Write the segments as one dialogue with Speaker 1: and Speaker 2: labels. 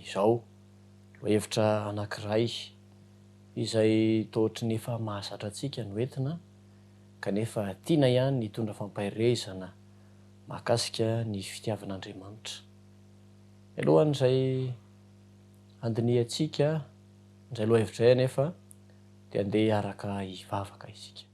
Speaker 1: izao. Hevitra anankiray izay toa ohatry ny efa mahazatra antsika no entina kanefa tiana ihany ny hitondra fampaherezana mahakasika ny fitiavan'Andriamanitra. Mialohan'izay handinihantsika izay lohahevitra izay anefa, dia andeha hiaraka hivavaka isika.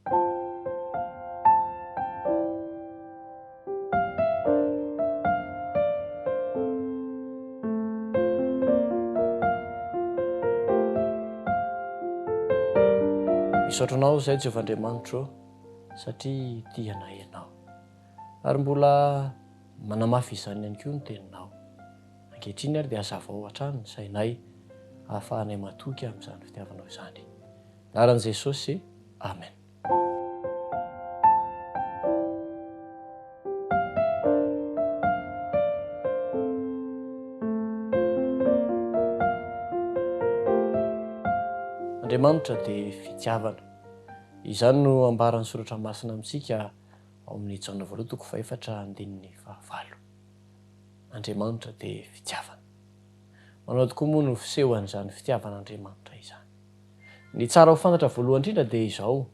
Speaker 1: Misaotra anao izay Jehovah Andriamanitro satria tia anay ianao. Ary mbola manamafy izany ihany koa ny teninao. Ankehitriny ary dia hazavao hatrany ny sainay hahafahanay matoky amin'izany fitiavanao izany. Anaran'i Jesosy, Amen. Andriamanitra dia fitiavana. Izany no ambaran'ny soratra masina amintsika ao amin'ny Jaona voalohany toko fahefatra andininy fahavalo. Andriamanitra dia fitiavana. Manao tokoa moa no fisehoan'izany fitiavan'Andriamanitra izany. Ny tsara ho fantatra voalohany indrindra dia izao,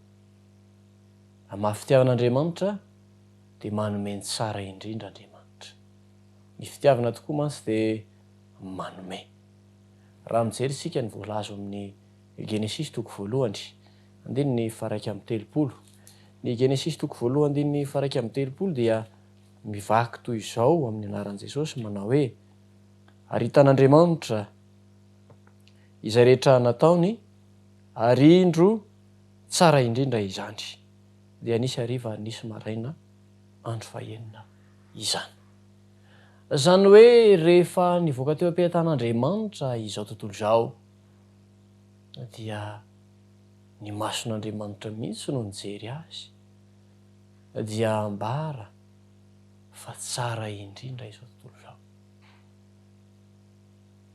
Speaker 1: raha mafy fitiavana Andriamanitra dia manome ny tsara indrindra Andriamanitra. Ny fitiavana tokoa mantsy dia manome. Raha mijery isika ny voalaza ao amin'ny Genesisy toko voalohany, andininy faha iraika amby telopolo, ny Genesisy toko voalohany, andininy faha iraika amby telopolo dia. mivaky toy izao amin'ny anaran'i Jesosy manao hoe, Aritan'Andriamanitra izay rehetra nataony, ary indro tsara indrindra izany. Dia nisy hariva ary nisy maraina andro fahenina izany. Izany hoe rehefa nivoaka teo am-pehitan'Andriamanitra izao tontolo izao dia ny mason'Andriamanitra mihitsy no nijery azy. dia ambara fa tsara indrindra izao tontolo izao.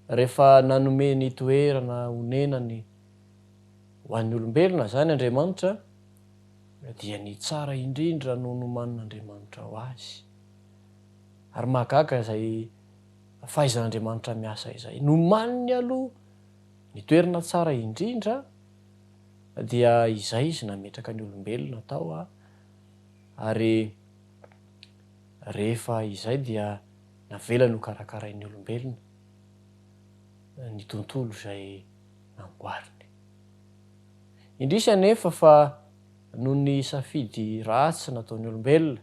Speaker 1: Rehefa nanome ny toerana onenany ho an'ny olombelona izany Andriamanitra, dia ny tsara indrindra no nomanin'Andriamanitra ho azy. Ary mahagaga izay fahaizan'Andriamanitra miasa izay. Nomaniny aloha ny toerana tsara indrindra, dia izay izy nametraka ny olombelona tao a, ary rehefa izay dia navelany ho karakarain'ny olombelona ny tontolo izay namboariny. Indrisy anefa fa noho ny safidy ratsy nataon'ny olombelona,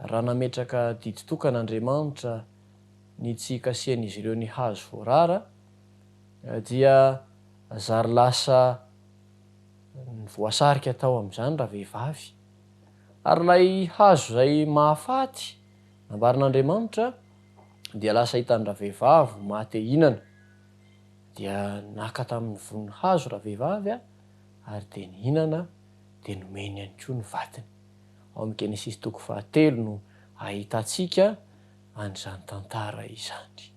Speaker 1: raha nametraka didy tokana Andriamanitra ny tsy hikasihan'izy ireo ny hazo voarara, dia Zary lasa ny voasarika tao amin'izany ravehivavy. Ary ilay hazo izay mahafaty, nambaran'Andriamanitra, dia lasa hitan'ny ravehivavy ho maha-te-hinana. Dia naka tamin'ny vonin'ny hazo ravehivavy ary dia nihinana, dia nomeny ihany koa ny vatiny. Ao amin'ny Genesisy toko fahatelo no ahitantsika an'izany tantara izany.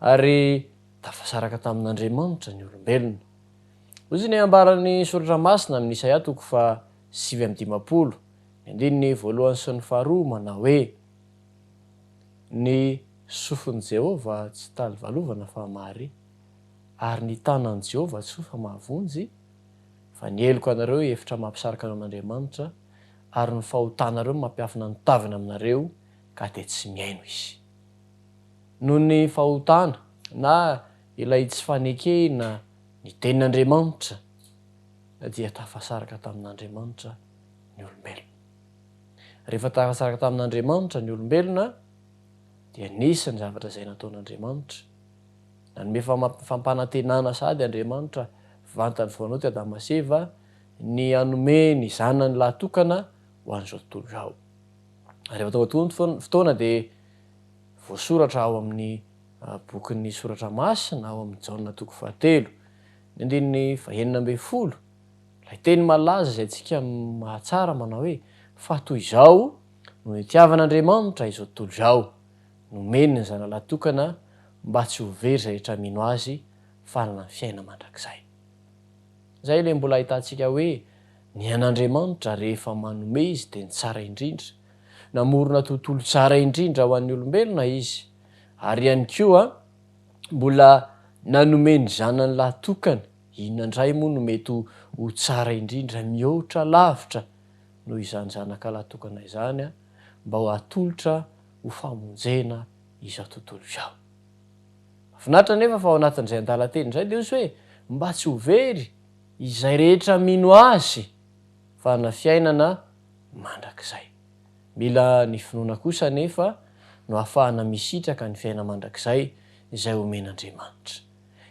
Speaker 1: Ary. Tafasaraka tamin'Andriamanitra ny olombelona. Hoy izay nambaran'ny Soratra Masina amin'ny Isaia toko faha sivy amby dimampolo, ny andininy voalohany sy ny faharoa manao hoe, Ny sofin'i Jehovah tsy talivalovana fa mahare, ary ny tanan'i Jehovah tsy fohy fa mahavonjy, fa ny heloka anareo efitra mampisaraka anao an'Andriamanitra, ary ny fahotanareo mampiafina ny taviny aminareo, ka dia tsy mihaino izy. noho ny fahotana na ilay tsy fanekena ny tenin'Andriamanitra dia tafasaraka tamin'Andriamanitra ny olombelona. Rehefa tafasaraka tamin'Andriamanitra ny olombelona dia nisy ny zavatra izay nataon'Andriamanitra. Nanome fampanantenana sahady Andriamanitra vantany voanao teo Adama sy Eva ny hanome ny zanany lahy tokana ho an'izao tontolo izao. Rehefa tonga tokoa ny fotoana dia voasoratra ao amin'ny bokin'ny Soratra Masina ao amin'ny Jaona toko fahatelo, ny andininy fahenina ambin'ny folo, ilay teny malaza izay antsika mahatsara manao hoe, Fa toy izao no nitiavan'Andriamanitra izao tontolo izao, nomeny ny Zanalahy Tokana mba tsy ho very izay rehetra mino Azy fa hanana ny fiainana mandrakizay. Izay ilay mbola ahitantsika hoe ny an'Andriamanitra rehefa manome Izy dia ny tsara indrindra, Namorona tontolo tsara indrindra ho an'ny olombelona Izy, ary ihany koa mbola nanome ny Zanany lahy tokana. Inona indray moa no mety ho tsara indrindra mihoatra lavitra noho izany Zanaka lahy tokana izany mba ho atolotra ho famonjena izao tontolo izao? Mahafinaritra anefa fa ao anatin'izay andalan-teny izay dia hoy izy hoe, Mba tsy ho very izay rehetra mino Azy, fa hanana fiainana mandrakizay. Mila ny finoana kosa anefa no ahafahana misitraka ny fiainana mandrakizay izay omen'Andriamanitra.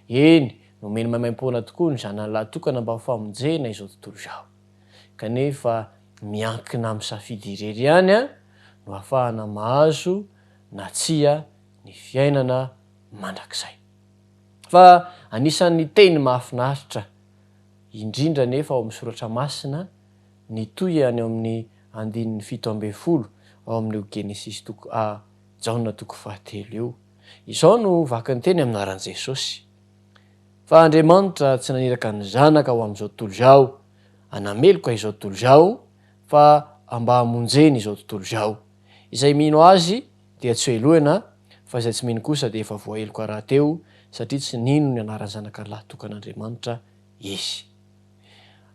Speaker 1: Eny, nomeny maimaim-poana tokoa ny Zanany lahy tokana mba ho famonjena izao tontolo izao. Kanefa miankina amin'ny safidy irery ihany no ahafahana mahazo na tsia ny fiainana mandrakizay. Fa anisan'ny teny mahafinaritra indrindra anefa ao amin'ny soratra masina, nitohy any ao amin'ny andininy fito ambin'ny folo ao amin'io Genesisy toko A, Jaona toko fahatelo io. Izao no vaky ny teny amin'aran'i Jesosy, Fa Andriamanitra tsy naniraka ny Zanaka ho amin'izao tontolo izao hanameloka izao tontolo izao, fa mba hamonjeny izao tontolo izao. Izay mino Azy dia tsy hohelohina, fa izay tsy mino kosa dia efa voaheloka rahateo, satria tsy nino ny anaran'ny Zanakalahy tokan'Andriamanitra. izy.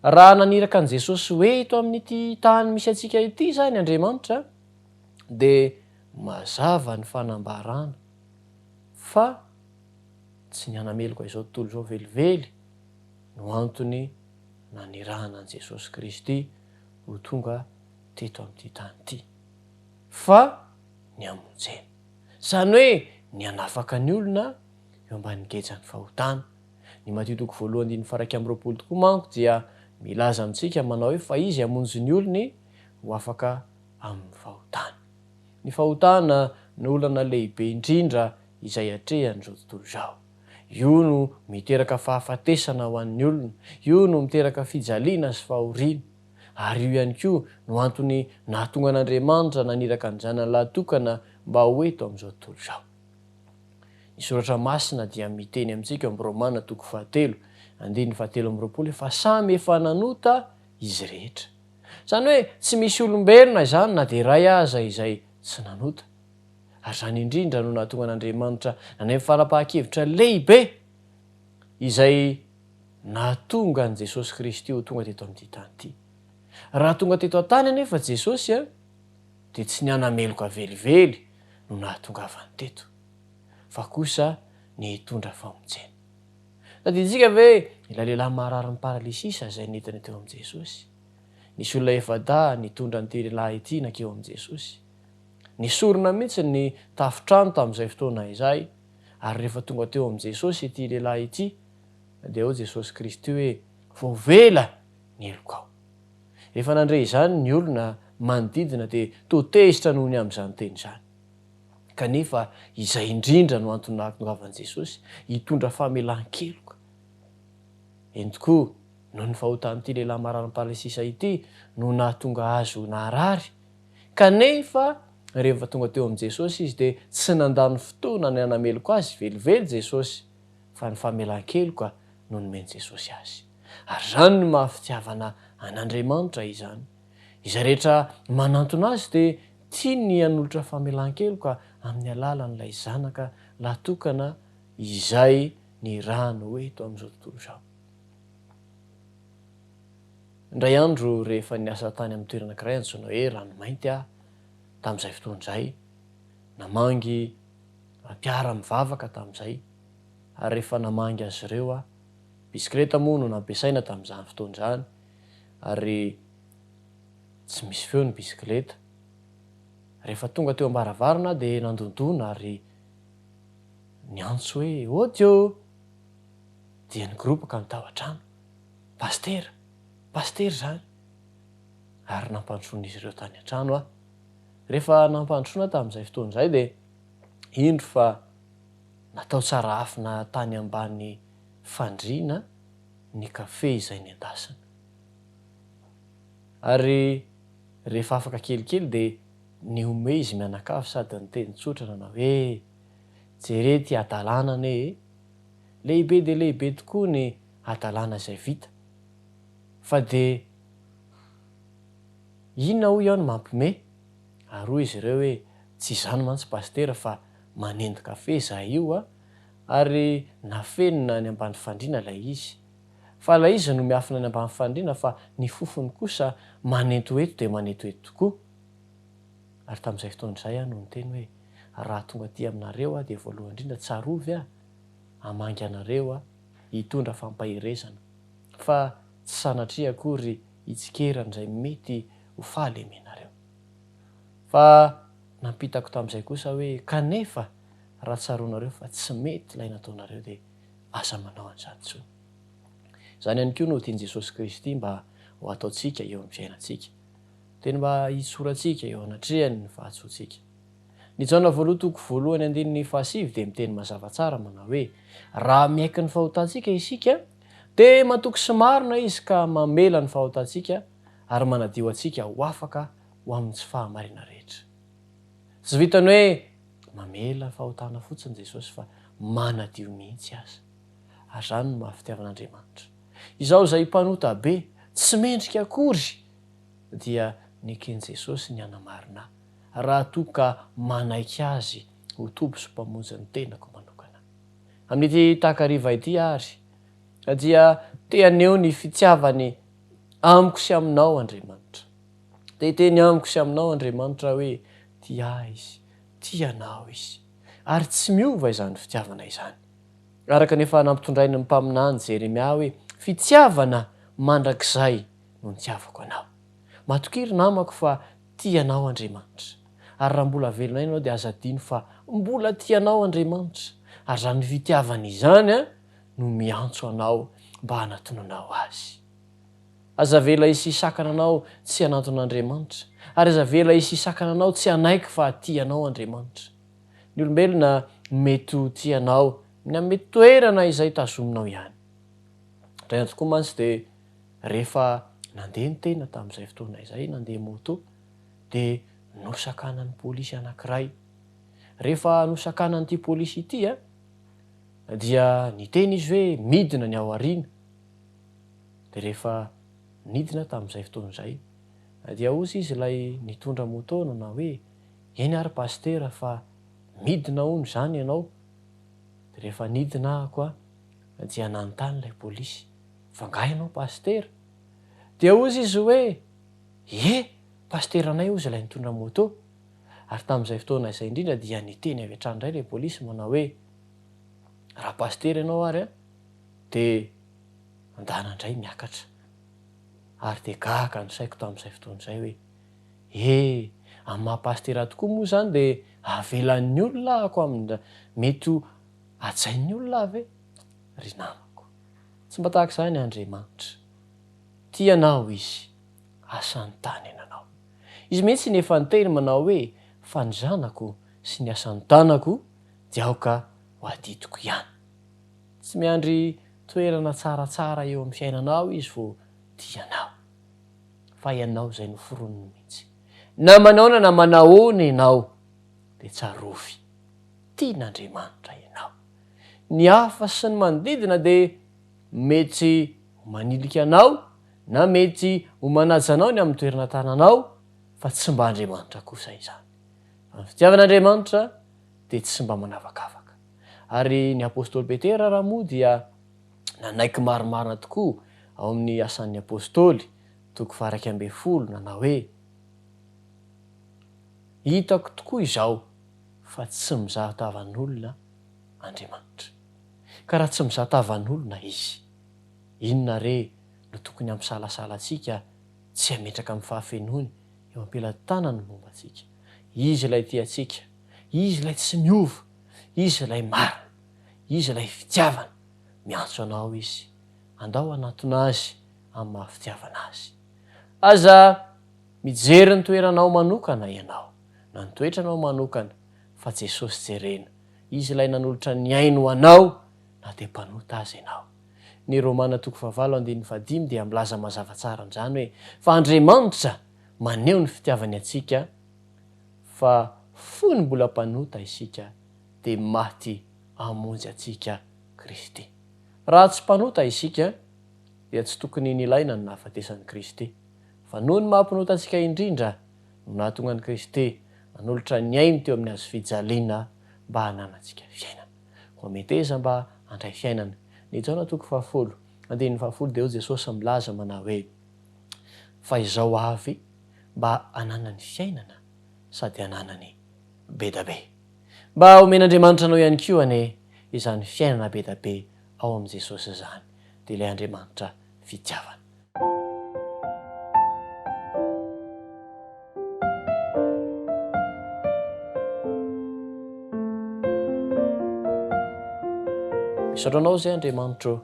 Speaker 1: Raha naniraka an'i Jesosy hoe eto amin'ity tany misy antsika ity izany Andriamanitra, dia mazava ny fanambarana fa tsy ny hanameloka izao tontolo izao velively no antony nanirahana an'i Jesosy Kristy ho tonga teto amin'ity tany ity, fa ny hamonjena. Izany hoe ny hanafaka ny olona eo ambanin'ny gejan'ny fahotana. Ny Matio toko voalohany andininy faharaika amby roapolo tokoa manko dia milaza amintsika manao hoe fa izy hamonjy ny olony ho afaka amin'ny fahotany. Ny fahotana no olana lehibe indrindra izay atrehan'izao tontolo izao. Io no miteraka fahafatesana ho an'ny olona, io no miteraka fijaliana sy fahoriana. Ary io ihany koa no antony nahatonga an'Andriamanitra naniraka ny Zanany lahy tokana mba ho eto amin'izao tontolo izao. Ny Soratra Masina dia miteny amintsika ao amin'ny Romana toko fahatelo, andininy fahatelo amby roapolo hoe fa samy efa nanota izy rehetra. Izany hoe tsy misy olombelona izany na dia iray aza izay tsy nanota. Ary izany indrindra no nahatonga an'Andriamanitra naneho fanapahan-kevitra lehibe izay nahatonga an'i Jesosy Kristy ho tonga teto amin'ity tany ity. Raha tonga teto an-tany anefa Jesosy, dia tsy ny hanameloka velively no nahatongavany teto, fa kosa ny hitondra famonjena. Tadidintsika ve ilay lehilahy mararin'ny paralysisa izay nentiny teo amin'i Jesosy? Nisy olona efa-dahy nitondra an'ity lehilahy ity nankeo amin'i Jesosy. Nesorina mihitsy ny tafon-trano tamin'izay fotoana izay, ary rehefa tonga teo amin'i Jesosy ity lehilahy ity, dia hoy Jesosy Kristy hoe, Voavela ny helokao. Rehefa nandre izany ny olona manodidina dia toa tezitra noho ny amin'izany teny izany. Kanefa izay indrindra no antony nahatongavan'i Jesosy hitondra famelan-keloka. Eny tokoa, noho ny fahotan'ity lehilahy marary am-palesisa ity no nahatonga azy ho naharary. Kanefa rehefa tonga teo amin'i Jesosy izy dia tsy nandany fotoana ny hanameloka azy velively Jesosy, fa ny famelan-keloka no nomen'i Jesosy azy. Ary izany no maha fitiavana an'Andriamanitra izany. Izay rehetra manantona Azy dia tiany ny hanolotra famelan-keloka amin'ny alalan'ilay Zanaka lahy tokana izay nirahany ho eto amin'izao tontolo izao. Indray andro rehefa niasa tany amin'ny toerana ankiray antsoina hoe Ranomainty aho tamin'izay fotoana izay, namangy mpiara-mivavaka tamin'izay, ary rehefa namangy azy ireo aho, Bisikileta moa no nampiasaina tamin'izany fotoana izany ary tsy misy feo ny bisikileta. Rehefa tonga teo am-baravarana aho dia nandondona ary niantso hoe Audio! Dia nigoropaka ny tao an-trano. Pasitera! Pasitera izany! Ary nampandrosoan'izy ireo tany an-trano aho. Rehefa nampandrosoana tamin'izay fotoana izay dia indro fa. Natao tsarafina tany ambany fandriana ny kafe izay nendasina. Ary rehefa afaka kelikely dia nihomehy izy mianakavy sady niteny tsotra nanao hoe, Jereo ity hadalana anie e! Lehibe dia lehibe tokoa ny hadalana izay vita. Fa dia inona hoy aho no mampihomehy? Ary hoy izy ireo hoe, Tsy izany mantsy Pasitera fa manendy kafe izahay io a! ary nafenina any ambany fandriana ilay izy. Fa ilay izy no miafina any ambany fandriana fa ny fofony kosa manento eto dia manento eto tokoa. Ary tamin'izay fotoana izay aho no niteny hoe, Raha tonga aty aminareo aho dia voalohany indrindra tsarovy aho hamangy anareo aho hitondra fampaherezana, fa tsy sanatria akory hitsikera an'izay mety ho fahalemenareo. Fa. Nampitako tamin'izay kosa hoe, Kanefa, raha tsaroanareo fa tsy mety ilay nataonareo, dia aza manao an'izany intsony. Izany ihany koa no tian'i Jesosy Kristy mba ho ataontsika eo amin'ny fiainantsika. Teny mba hitsorantsika eo anatrehany ny fahatsoantsika. Ny Jaona voaloha toko voalohany andininy fahasivy dia miteny mazava tsara manao hoe, Raha miaiky ny fahotantsika isika, dia matoky sy marina Izy ka mamela ny fahotantsika ary manadio antsika ho afaka ho amin'ny tsy fahamarina rehetra. Tsy vitan'ny hoe mamela fahotana fotsiny Jesosy fa manadio mihitsy aza. Ary izany no maha fitiavan'Andriamanitra. Izaho izay mpanota be, tsy mendrika akory, dia neken'i Jesosy ny hanamarina ahy, raha toa ka manaiky Azy ho Tompo sy Mpamonjin'ny tenako manokana. Amin'ity takariva ity àry, dia te haneho ny fitiavany amiko sy aminao Andriamanitra. Dia hiteny amiko sy aminao Andriamanitra hoe, Tia Ahy Izy, tia anao Izy. Ary tsy miova izany fitiavana izany. Araka ny efa nampitondrainy ny mpaminany Jeremia hoe, Fitiavana mandrakizay no nitiavako anao. Matokia ry namako fa tia anao Andriamanitra. Ary raha mbola velona ianao dia aza adino fa mbola tia anao Andriamanitra. Ary izany fitiavana izany no miantso anao mba hanatonanao Azy. Aza avela hisia sakana anao tsy hanantona Andriamanitra, ary aza avela hisia sakana anao tsy hanaiky fa tia anao Andriamanitra. Ny olombelona mety ho tia anao ny amin'ny toerana izay tazominao ihany. Indraindray tokoa mantsy dia rehefa nandeha ny tena tamin'izay fotoana izay nandeha moto dia nosakanan'ny polisy anankiray. Rehefa nosakanan'ity polisy ity dia niteny izy hoe midina ny ao aoriana. Dia rehefa nidina tamin'izay fotoana izay dia hozy izy ilay nitondra moto nanao hoe, eny ary pasitera fa midina hono izany ianao. Dia rehefa nidina ahako aho dia nanontany ilay polisy, fa angaha ianao pasitera? Dia hozy izy hoe, ie, pasiteranay hozy ilay nitondra moto. Ary tamin'izay fotoana izay indrindra dia niteny avy hatrany indray ilay polisy manao hoe, raha pasitera ianao ary an, dia. Mandàna indray miakatra. Ary dia gaga ny saiko tamin'izay fotoana izay hoe, He, amin'ny maha pasitera tokoa moa izany dia avelan'ny olona ako amin'ny mety ho hajain'ny olona aho ve? Ry namako, tsy mba tahaka izany Andriamanitra. Tia anao Izy, asa nitanen anao. Izy mihitsy no efa niteny manao hoe, Fa ny zanako sy ny asa nitanako dia aoka ho adidiko ihany. Tsy miandry toerana tsaratsara eo amin'ny fiainanao Izy vao tia anao, fa ianao izay noforoniny mihitsy. Na manaona na manahoana ianao, dia tsarovy, tian'Andriamanitra ianao. Ny hafa sy ny manodidina dia mety ho manilika anao na mety ho manaja anao ny amin'ny toerana tananao, fa tsy mba Andriamanitra kosa izany. Fa ny fitiavan'Andriamanitra dia tsy mba manavakavaka. Ary ny apostoly Petera raha moa dia nanaiky marimarina tokoa ao amin'ny Asan'ny Apostoly, toko faharaika ambin'ny folo, nanao hoe, Hitako tokoa izao fa tsy mizaha tavan'olona Andriamanitra. Ka raha tsy mizaha tavan'olona Izy, inona re no tokony hampisalasala antsika tsy hametraka amin'ny fahafenoany eo am-pelan-tanany ny momba antsika? Izy ilay tia antsika. Izy ilay tsy miova, Izy ilay marina, Izy ilay fitiavana. Miantso anao Izy, andao hanatona Azy amin'ny maha fitiavana Azy. Aza mijery ny toeranao manokana ianao, na ny toetranao manokana, fa Jesosy jerena, Izy ilay nanolotra ny ainy ho anao na dia mpanota aza ianao. Ny Romana toko fahavalo andininy fahadimy dia milaza mazava tsara an'izany hoe, fa Andriamanitra maneho ny fitiavany antsika, fa fony mbola mpanota isika dia maty hamonjy antsika Kristy. Raha tsy mpanota isika dia tsy tokony nilaina ny nahafatesan'i Kristy, fa noho ny maha-mpanota antsika indrindra no nahatonga an'i Kristy nanolotra ny ainy teo amin'ny hazo fijaliana mba hananantsika fiainana. Koa meteza mba handray fiainana. Ny Jaona toko fahafolo, andininy fahafolo dia hoy Jesosy milaza manao hoe, Fa izao avy mba hananany fiainana sady hananany bedabe. Mba homen'Andriamanitra anao ihany koa anie izany fiainana bedabe ao amin'i Jesosy izany, dia ilay Andriamanitra fitiavana. Misaotra anao izay Andriamanitro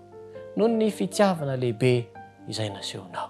Speaker 1: noho ny fitiavana lehibe izay nasehonao.